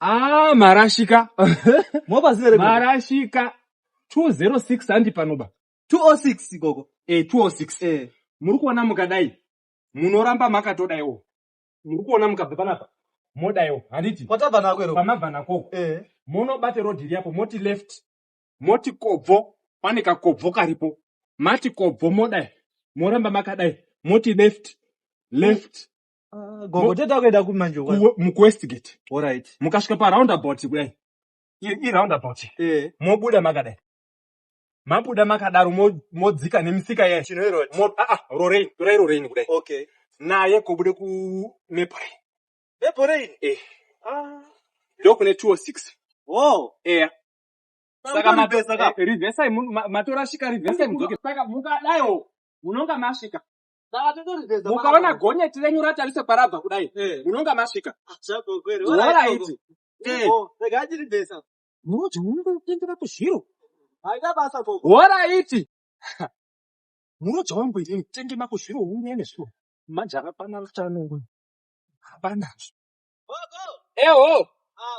Ah, marashika. Mobva zina rekuti. Marashika 206 handi panoba. 206 gogo. Eh, 206. Eh. Muri kuona mukadai. Munoramba makatodaiwo. Muri kuona mukabva panapa. Modaiwo. Handiti. Kwatabva nako ero. Pamabva nako. Eh. Monobate road iri apo moti left. Moti kobvo. Pane kakobvo karipo. Mati kobvo modai. Moramba makadai. Moti left. Left. Ah, gogo Mo- tete akuenda kupi manje uko? ku- mukuwestgate Alright. mukasvika paroundabout kudai i- iroundabout Eh. mobuda makadai mabuda makadaro mo- modzika nemisika yayo Chinhoyi road. Mo- ah, ah, rorain torai rorain kudai Okay. naye kobude ku mepore Bepo rain. eh Ah. ndokune 206 Wow. eya Saka ma- Pesa ka. eh, reversai mu- ma- matorashika reversai mudzoke saka mukadaiwo munonga masvika mukaona gonyeti renyu ratarise kwarabva kudai eh. munonga masvika oraiti munoti unonge kutengera kuzviro oraiti muroja wangu iri mutenge makuzviro unge nezviro manje hapana kutanongo hapanazvo eho ah,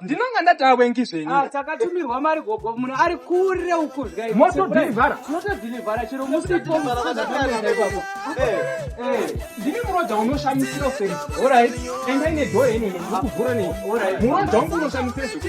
ndinonga ndataa wengi zvenyutakatumihwa ah, mari gogo muno ari kure ukuzvimotodhirivhara motodhirivhara chero musipo ndini muroja unoshamisira useri orit enda ine dhora ine ndikuvhura nei muroja wangu unoshamisira zvekuti